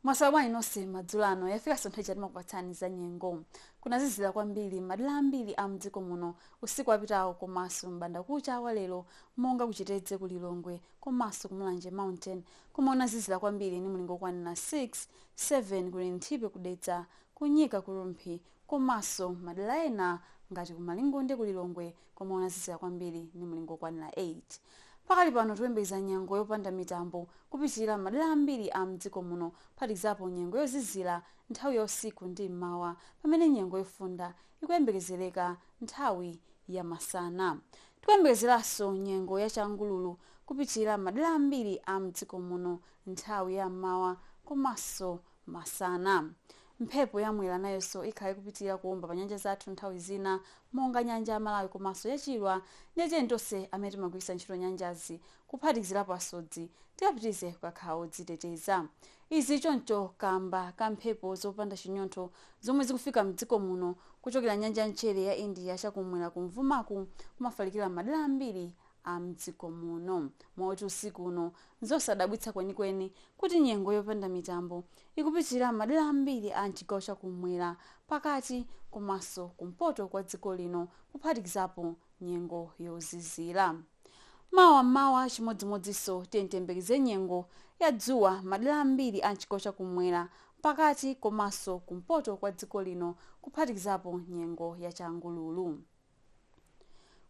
mwaswera bwanji nonse madzulo ano yafika nthawi ija timakupatsani za nyengo kunazizira kwambiri madera ambiri a mdziko muno usiku wapitawo komanso m'banda kucha wa lero monga kuchitedze ku lilongwe komanso ku mulanje mountain komwe kunazizira kwambiri ni mulingo okwanira 6 7 ku linthipe kudedza kunyika ku rumphi komanso madera ena ngati ku malingunde ku lilongwe komwe kunazizira kwambiri ndi mlingo wokwanira 8. Pakali pano tikuyembekeza nyengo yopanda mitambo kupitirira m'madera ambiri a m'dziko muno kuphatikizapo nyengo yozizira nthawi ya usiku ndi m'mawa pamene nyengo yofunda ikuyembekezereka nthawi ya masana. Tikuyembekezeranso nyengo ya changululu kupitirira m'madera ambiri a m'dziko muno nthawi ya m'mawa komanso masana. Mphepo ya Mwera nayonso ikhala ikupitilira kuomba pa nyanja zathu nthawi zina monga nyanja ya Malawi komanso ya Chilwa ndiye tiyeni tonse amene timagwiritsa ntchito nyanjazi kuphatikizirapo asodzi tikapitirize kukakhala odziteteza. Izi choncho kaamba ka mphepo zopanda chinyontho zomwe zikufika mdziko muno kuchokera nyanja ya mchere ya India chakum'mwera kumvuma n'kumafalikira m'madera ambiri a m'dziko muno. Moti usiku uno, n'zosadabwitsa kwenikweni kuti nyengo yopanda mitambo ikupitirira m'madera ambiri a m'chigawo cha kum'mwera, pakati komanso kumpoto kwa dziko lino kuphatikizapo nyengo yozizira. Mawa m'mawa chimodzimodzinso tiyeni tiyembekeze nyengo ya dzuwa m'madera ambiri a m'chigawo cha kum'mwera, pakati komanso kumpoto kwa dziko lino kuphatikizapo nyengo ya changululu.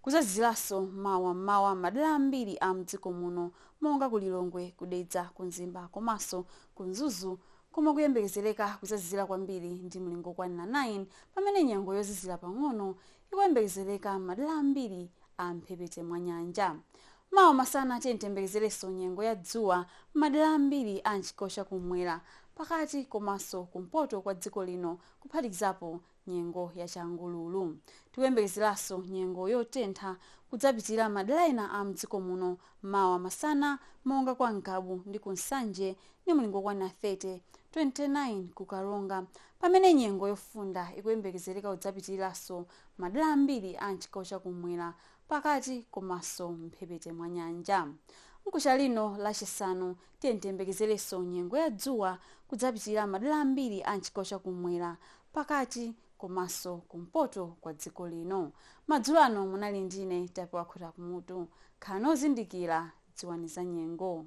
Kuzazizilanso mawa m'mawa madela ambiri a mdziko muno monga ku Lilongwe, ku Dedza, ku Mzimba komaso ku Mzuzu komwe kuyembekezeleka kuzazizila kwambiri ndi mlingo okwanila 9 pamene nyengo yozizila pang'ono ikuyembekezeleka m'madela ambiri a m'mphepete mwa nyanja. Mawa masana tiyeni tiyembekezelenso nyengo ya dzuwa m'madela ambiri a m'chigawo cha kum'mwera, pakati komaso kumpoto kwa dziko lino kuphatikizapo nyengo ya changululu. Tikuyembekezeraso nyengo yotentha kudzapitirira madera ena a mdziko muno mawa masana monga kwa Ngabu ndi ku Nsanje ndi mulingo okwana 30, 29 ku Karonga pamene nyengo yofunda ikuyembekezereka kudzapitirilaso madera ambiri a mchigawo cha kumwera, pakati komaso mphepete mwa nyanja. Mkuja uno lachisanu Tiyeni tiyembekezerenso nyengo ya dzuwa kudzapitirira madera ambiri a m'chigawo cha kummwera, pakati komanso kumpoto kwa dziko lino. Madzulo ano munali ndi ine Tapewa Khota Kumutu. Khalani ozindikira, dziwani za nyengo.